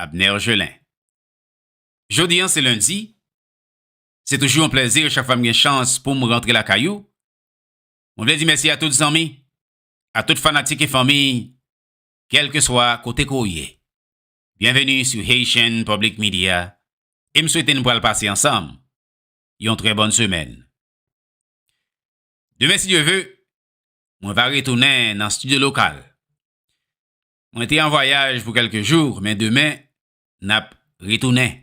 Abner Gelin. Jodi an se Lendi, se toujou yon plèzi chak fwa m gen chans pou m rantre lakay ou. Mwen vle di mèsi a tout zanmi, a tout fanatik e fanmi, kèlkeswa kote ke w ye. Byenveni sou Haitian Public Media e m swete n pral pase ansanm yon trè bòn semèn. Demen si Dye ve, mwen va retounen nan studio lokal. Mwen te an vwayaj pou kèlke jou, men demen, n ap retounen.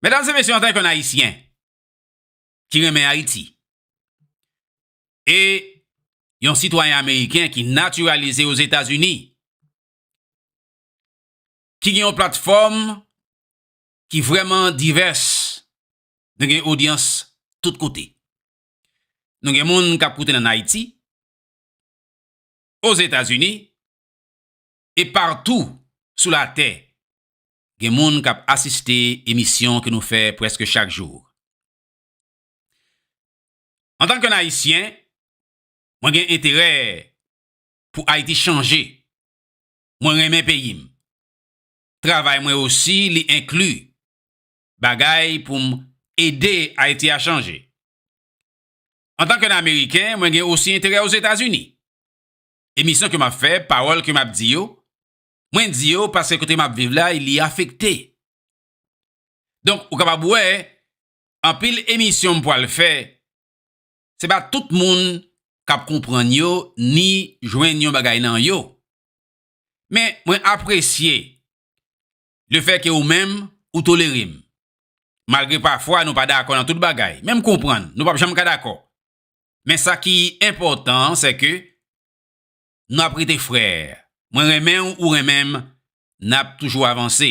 Medam e mesye, antanke yon Ayisyen ki renmen Ayiti e yon sitwayen ameriken ki natiralize Ozetazini, ki gen yon platfòm ki vrèman divès, nou gen odyans tout kote. Nou gen moun k ap koute n ann Ayiti, Ozetazini e partou sou latè gen moun k ap asiste emisyon ke nou fè prèske chak jou. Antan ke yon Ayisyen, mwen gen enterè pou Ayiti chanje. Mwen renmen peyi m. Travay mwen osi li enkli bagay pou m ede Ayiti a chanje. Antan ke yon Ameriken, mwen gen osi enterè Ozetazini. Emisyon ke m ap fè, pawòl ke m ap di yo, mwen di yo paske kote m ap viv la li afekte. Donk ou kapab wè, anpil emisyon m pwal fè, se pa tout moun k ap konprann yo ni jwenn yon bagay nan yo. Men mwen apresye Le fè ke ou menm, ou tolere m. Malgre pafwa nou pa dakò nan tout bagay. Men m konprann, nou p ap janm ka dakò. Men sa ki enpòtan an, se ke nou ap rete frè. Mwen renmen w, ou renmen m, n ap toujou avanse.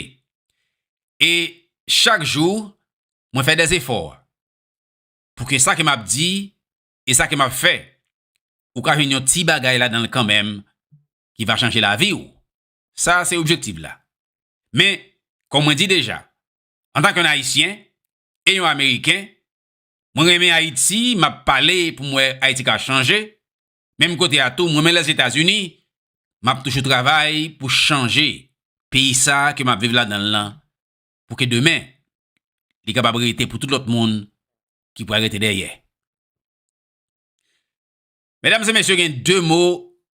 E chak jou, mwen fè de zefò. Pou ke sa ke m ap di, e sa ke m ap fè, ou ka jwenn yon ti bagay ladan l kanmenm ki va chanje lavi w. Sa se objektif la. Men, kòm mwen di deja, antank yon Ayisyen e yon Ameriken, mwen renmen Ayiti, m ap pale pou m wè Ayiti ka chanje, menm kote a tou m renmen Lèzetazini, m ap toujou travay pou chanje peyi sa ke m ap viv ladan l lan pou ke demen li kapab rete pou tout lòt moun ki pral rete dèyè. Medam e mesye gen de mo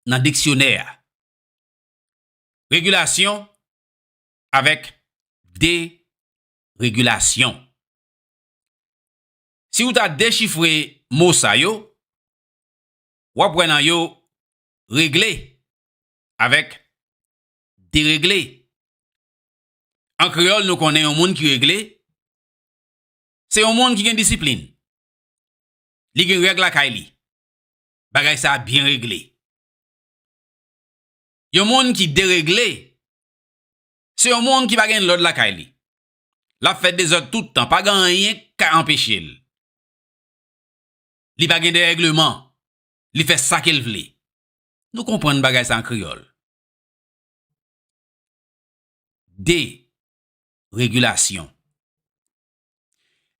nan diksyonè a Regilasyon avèk deregilasyon. Si ou ta dechifre mo sa yo, w ap wè nan yo regle avèk deregle. An kreyòl nou konnen yon moun ki regle, se yon moun ki gen disiplin, li gen règ lakay li, bagay sa byen regle. Yon moun ki deregle, se yon moun ki pa gen lòd lakay li. L ap fè dezòd tout tan, pa gen anyen k ka anpeche l. Li pa gen derègleman, li fè sa ke l vle. Nou konprann bagay sa an kreyòl. Deregilasyon.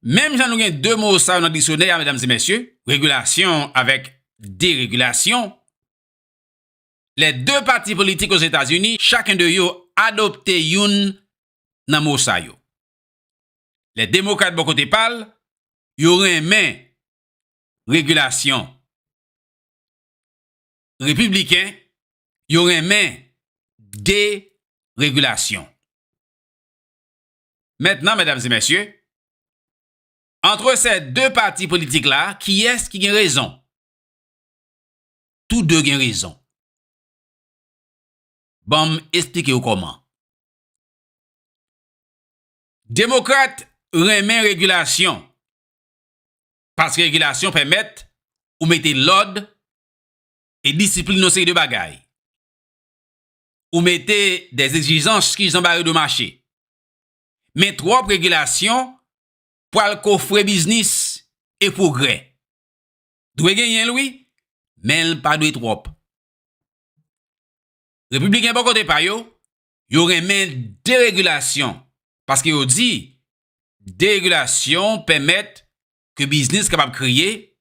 Menm jan nou gen 2 mo sa yo nan diksyonè a, medam e mesye, regilasyon avèk deregilasyon, lè 2 pati politik Ozetazini, chaken de yo adopte youn nan mo sa yo. Lè Demokrat bò kote pa l, yo renmen regilasyon. Repibliken, yo renmen deregilasyon. Mentnan, medam e mesye, antre sè 2 pati politik la, kiyès ki gen rezon? Tou de gen rezon. Banm esplike w kòman. Demokrat renmen regilasyon. Paske regilasyon pèmèt ou mete lòd e disiplin yon seri de bagay. Ou mete de egzijans ki jan bare de mache. Men twòp regilasyon pwal kofre biznis e pwogrè. Dwe genyen l wi, men l pa dwe twòp. Repibliken bò kote pa yo, yo renmen deregilasyon paske yo di deregilasyon pèmèt ke biznis kapab kreye,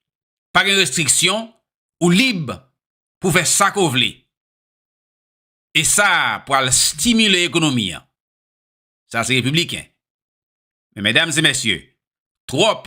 pa gen restriksyon, ou lib pou fè sa ke w vle. E sa pral stimile ekonomi an. Sa se repibliken. Men medam e mesye, twòp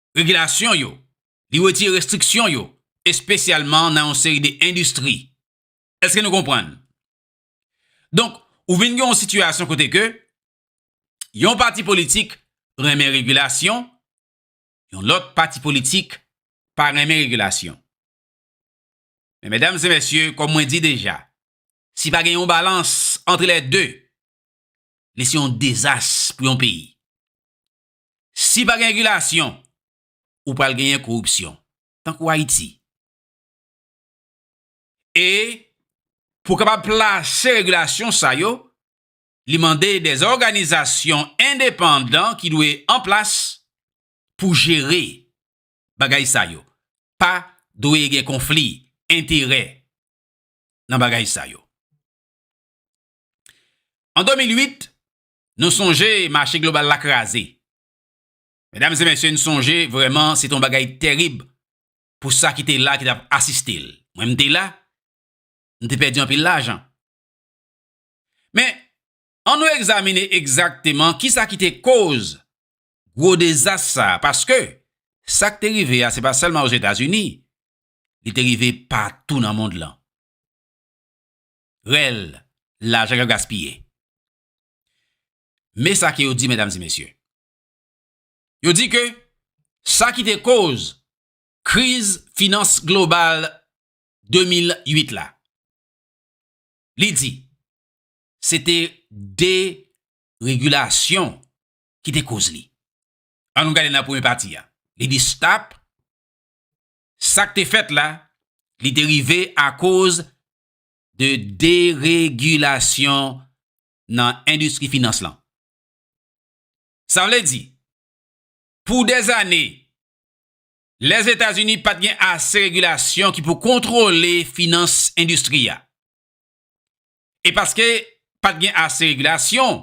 regilasyon yo, li wetire restriksyon yo, espesyalman nan yon seri de endistri. Eske nou konprann? Donk, ou vin gen yon sitiyasyon kote ke yon pati politik renmen regilasyon, yon lòt pati politik pa renmen regilasyon. Men medam e mesye, kòm mwen di deja, si pa gen yon balans antre lè de, li se yon dezas pou yon peyi. Si pa gen regilasyon, ou pral genyen koripsyon. Tankou Ayiti. E, pou kapab plase regilasyon sa yo, li mande de òganizasyon endepandan ki dwe an plas pou jere bagay sa yo. Pa dwe gen konfli enterè nan bagay sa yo. An 2008, Nou sonje mache global la kraze. Medam e mesye n sonje vreman se t on bagay terib pou sa ki te la ki t ap asiste l. Mwen m te la, m te pèdi anpil lajan. Men, an nou egzamine egzakteman ki sa ki te koz gwo dezas sa a paske sa k te rive a se pa sèlman Ozetazini, li te rive patou nan mond lan. Rèl lajan k ap gaspiye. Men sa ke yo di medam e mesye. Yo di ke sa ki te koz kriz finans global 2008 la. Li di, se te de regulasyon ki te koz li. An nou gade nan premye pati a. Li di stop, sa ki te fet la, li te rive a koz de deregilasyon nan endistri finans lan. Sa vle di, pou dèz ane, Lèzetazini pa t gen ase regilasyon ki pou kontwole finans endistri a. E paske pa t gen ase regilasyon,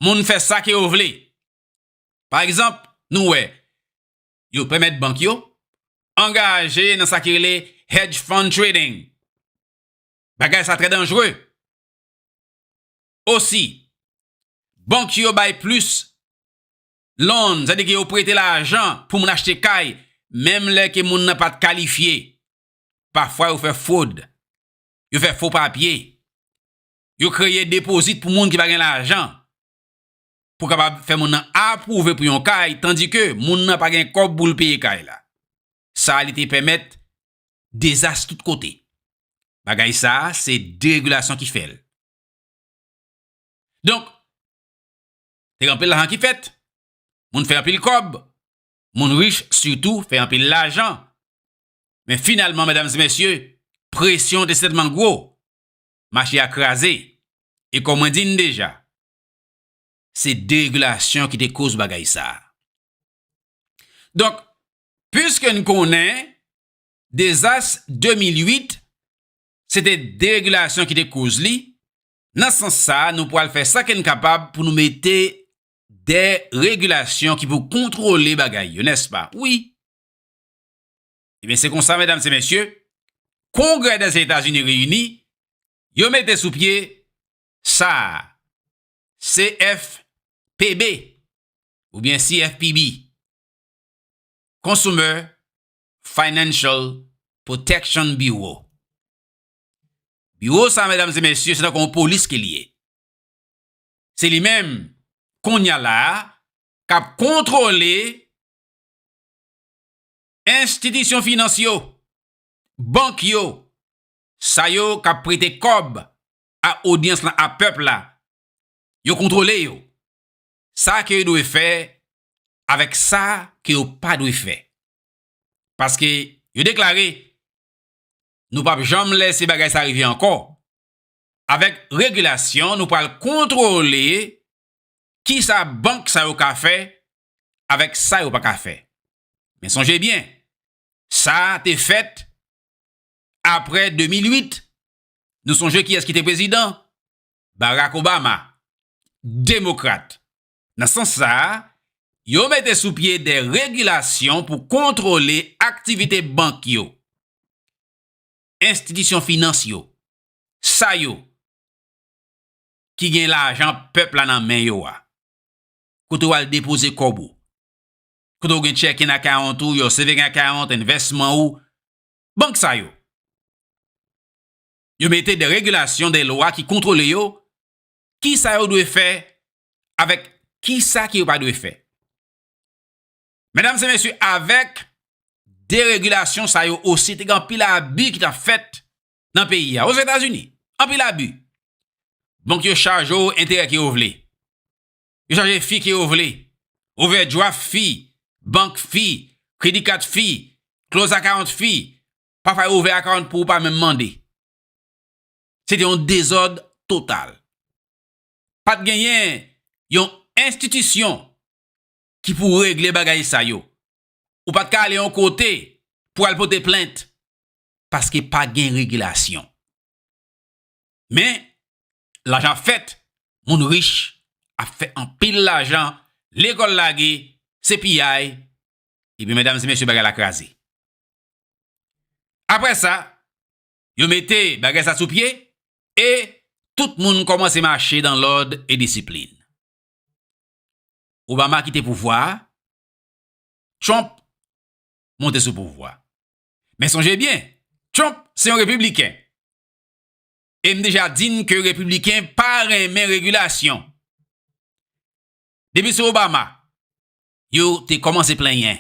moun fè sa ke yo vle. Pa egzanp, nou wè, yo pèmèt bank yo angaje nan sa ki rele hedge fund trading. Bagay sa trè danjre. Osi, bank yo bay plis loan, sa di ki yo prete lajan pou moun achte kay, menm lè ke moun nan pa t kalifye. Pafwa yo fè fwod, yo fè fo papye, yo kreye depozit pou moun ki pa gen lajan. pou kapab fè moun nan apwouve pou yon kay tandi ke moun nan pa gen kòb pou l peye kay la. Sa li te pèmèt dezas tout kote. Bagay sa a se deregilasyon ki fè l. Donk, te gen anpil lajan ki fèt, moun fè anpil kòb, moun rich sitou fè anpil lajan. Men finalman, medam e mesye, presyon te sètman gwo, mache a kraze. E kòm mwen di n deja, Se deregilasyon ki te koz bagay sa. Donk, pwiske n konnen, dezas 2008, se te deregilasyon ki te koz li, nan san sa, nou pwal fè sa ke n kapab pou nou mete de regilasyon ki pou kontwole bagay yo, nès pa? Wi. E ben, se konsa, medam se mesye, Kongrè dèzetazini reyini, yo mete sou pye sa a, CFPB oubyen CFPB, Consumer Financial Protection Bureau. Biwo sa a, medam e mesye, se tankou yon polis ke li ye. Se li menm, kounya la a, k ap kontwole enstitisyon finans yo, bank yo, sa yo k ap prete kòb a odyans lan a pèp la, yo kontwole yo, sa ke yo dwe fè avèk sa ke yo pa dwe fè. Paske yo deklare, Nou pap janm lèse bagay sa rive ankò. Avèk regilasyon nou pral kontwole ki sa bank sa yo ka fè avèk sa yo pa ka fè. Men sonje byen, sa te fèt apre 2008 Nou sonje kiyès ki te prezidan? Barack Obama, Demokrat. Nan sans sa a, yo mete sou pye de regilasyon pou kontwole aktivite bank yo, enstitisyon finans yo, sa yo ki gen lajan pèp la nan men yo a. Kote w al depoze kòb ou, kote w gen checking account ou, your saving account, envèsman ou, Bank sa yo. Yo mete de regulasyon, de lwa ki kontrole yo, ki sa yo dwe fè, avèk ki sa ki yo pa dwe fè. Medam se mesye, avèk de regulasyon sa yo osi, te gen anpil abi ki ta fèt nan peyi a. Ozetazini, anpil abi. Bank yo chaje yo enterè ki yo vle. yo chaje fi ke yo vle, ovèdjwaf fi, bank fi, kredi kat fi, kloz akawont fi, pafwa yo ouvè akawont pou ou pa menm mande. Se te yon dezòd total. Pat genyen yon enstitisyon ki pou regle bagay sa yo. Ou pat ka ale yon kote pou al pote plent paske pa gen regilasyon. Men, lajan fèt, moun rich ap fè anpil lajan, lekòl lage, se piyay, epi medam e mesye bagay la kraze. Apre sa, yo mete bagay sa sou pye e tout moun kòmanse mache dan lòd e disiplin. Obama kite pouvwa a, Trump monte sou pouvwa. Men sonje byen, Trump se yon repibliken. E m deja di n ke Repibliken pa renmen regilasyon. Depi sou Obama, yo te kòmanse plenyen,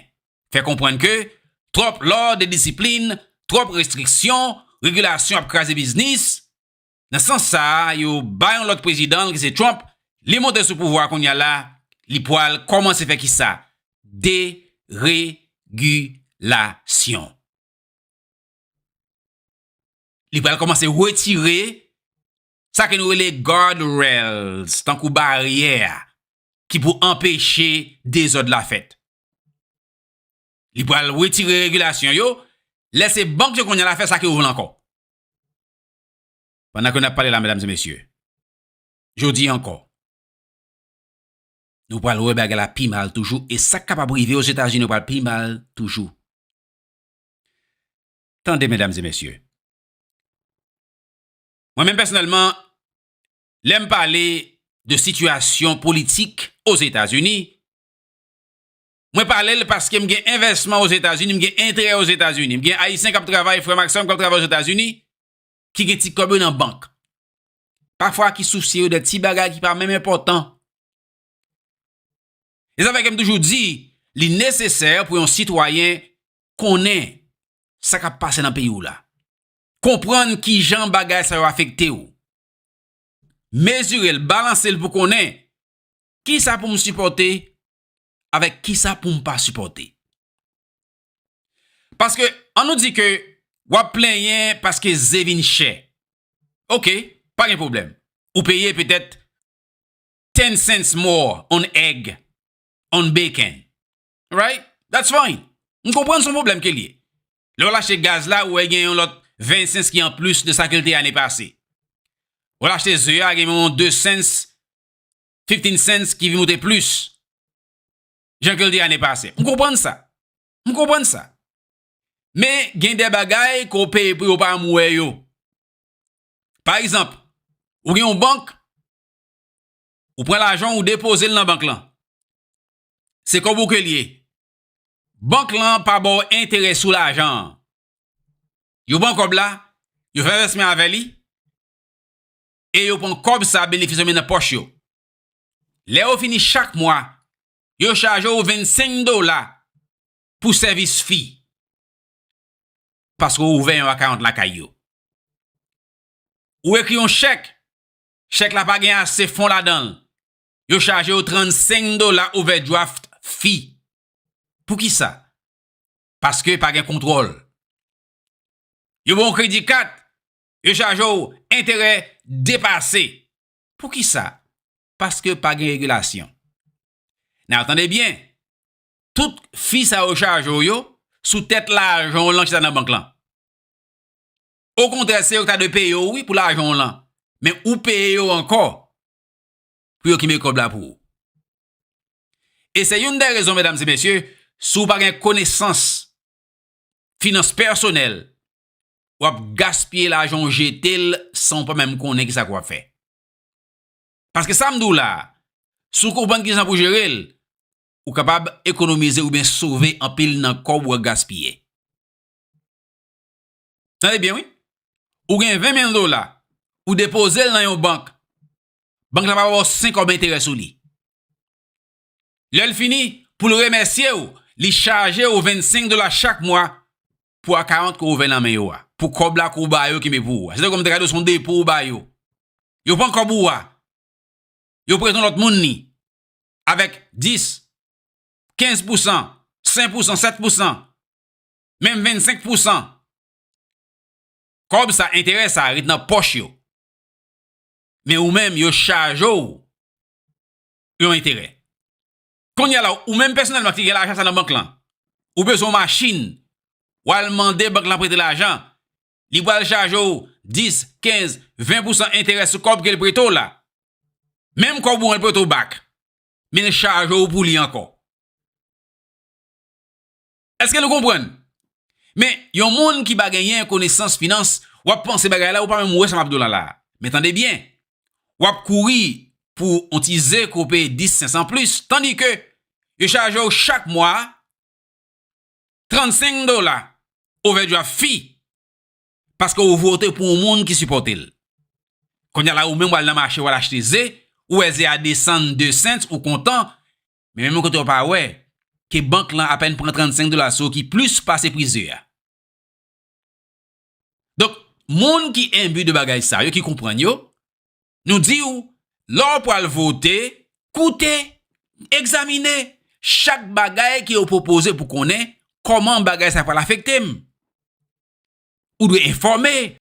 fè konprann ke twòp lòd e disiplin, twòp restriksyon, regilasyon ap kraze biznis. Nan sans sa a, yo bay yon lòt prezidan l ki se Trump, li monte sou pouvwa a kounye a la, li pwal kòmanse fè kisa? Deregilasyon. li pral kòmanse retire sa ke nou rele guard rails, tankou baryè a, ki pou anpeche dezòd la fèt. Li pral retire regilasyon yo, lè se bank yo kounye la fè sa ke yo vle ankò. Pandan ke nap pale la, medam e mesye, jodi ankò, nou pral wè bagay la pi mal toujou, e sak kapab rive o Zetazini pral pi mal toujou. Tande medam e mesye. Mwen menm pèsonèlman, lè m pale de sitiyasyon politik Ozetazini, mwen pale l paske m gen envèsman Ozetazini, m gen enterè Ozetazini. M gen Ayisyen k ap travay, frè m ak sè m k ap travay Ozetazini, ki gen ti kòb yo nan bank. Pafwa ki sousye yo de ti bagay ki pa menm enpòtan. Se sa fè ke m toujou di, li nesesè pou yon sitwayen konnen sa k ap pase nan peyi w la. Konprann ki jan bagay sa yo afekte w. Mezire l, balanse l pou konnen ki sa pou m sipòte avèk ki sa pou m pa sipòte. Paske, an nou di ke w ap plenyen paske ze vin chè. Ok, pa gen pwoblèm. Ou peye petèt 10 cents more on egg, on bacon. Right? That's fine. M konprann son pwoblèm ke l ye. Lè w lache gaz la, ou wè gen yon lòt 20 cents ki an plis de sa ke l te ane pase. Ou lache ze a, gen yon 2 cents, 15 cents ki vin moute plis jan ke l te ane pase. M konprann sa. M konprann sa. Men gen de bagay ke w peye pou yo pa m wè yo. Pa egzanp, ou gen yon bank, Ou pran lajan ou depoze l nan bank lan. Se kòb ou ke li ye. Bank lan pa ba w enterè sou lajan an. Yo pran kòb la, yo fè vèsman avè li, e yo pran kòb sa benefis yo met nan pòch yo. Lè yo fini chak mwa, yo chaje w 25 dola pou sèvis fi. Paske ou ouvè yon akawont lakay yo. Ou ekri yon chèk Chèk la pa gen ase fon ladan l. Yo chaje w 35 dola overdraft fee. Poukisa? Paske pa gen kontwòl. Yo ba w kredi kat, yo chaje w enterè depase. Poukisa? Paske pa gen regilasyon. Now tande byen, tout fee sa yo chaje w yo sou tèt lajan w lan ki chita nan bank lan. Okontrè se yo ki ta dwe peye w wi pou lajan w lan. Men ou peye yo ankò pou yo ki mekòb la pou ou. E se youn dè rezon medam e mesye, si w pa gen konesans finans pèsonèl, w ap gaspiye lajan w jete l san w pa menm konnen ki sa k w ap fè. Paske sa m di w la, si w konprann ki jan pou jere l, ou kapab ekonomize oubyen sove anpil nan kòb w gaspiye. Tande byen wi, ou gen 20 mil dola, ou depoze l nan yon bank, bank la pa ba w 5 kòb enterè sou li. Lè l fini, pou l remèsye w, li chaje w 25 dola chak mwa pou akawont ke w ouvè nan men yo a, pou kòb la ke w ba yo kenbe pou ou a. Se tankou m te ka di w se yon depo ou ba yo. Yo pran kòb ou a, yo prete yon lòt moun li, avèk 10, 15 pousan, 5 pousan, 7 pousan. menm 25 pousan kòb sa enterè sa ret nan pòch yo men ou menm yo chaje w yon enterè kounye la ou menm pèsonèlman ki gen lajan sa nan bank lan ou bezwen yon machin w al mande bank lan prete lajan li pral chaje w 10, 15, 20 pousan enterè sou kòb ke l prete w la menm kòb ou an l prete w bak men l chaje w pou li ankò Eske nou konprann? Men, yon moun ki pa genyen konesans finans, w ap panse bagay la, ou pa menm wè sa m ap di w la la a. Men tande byen, w ap kouri pou yon ti ze ke w peye 10 sens an plis, tandi ke yo chaje w chak mwa 35 dola ovèdwa fi paske w vote pou yon moun ki sipòte l. Kounye a la ou menm w al nan mache w al achte ze, ou wè ze a desann 2 sens, ou kontan, Men menm kote w pa wè ke bank lan apèn pran 35 dola sou w ki plis pase pri ze a. Donk, moun ki enbi de bagay sa yo, ki konprann yo, nou di w, lè w pral vote, koute, egzamine chak bagay ke yo pwopoze pou konnen kòman bagay sa pral afekte m. Ou dwe enfòme.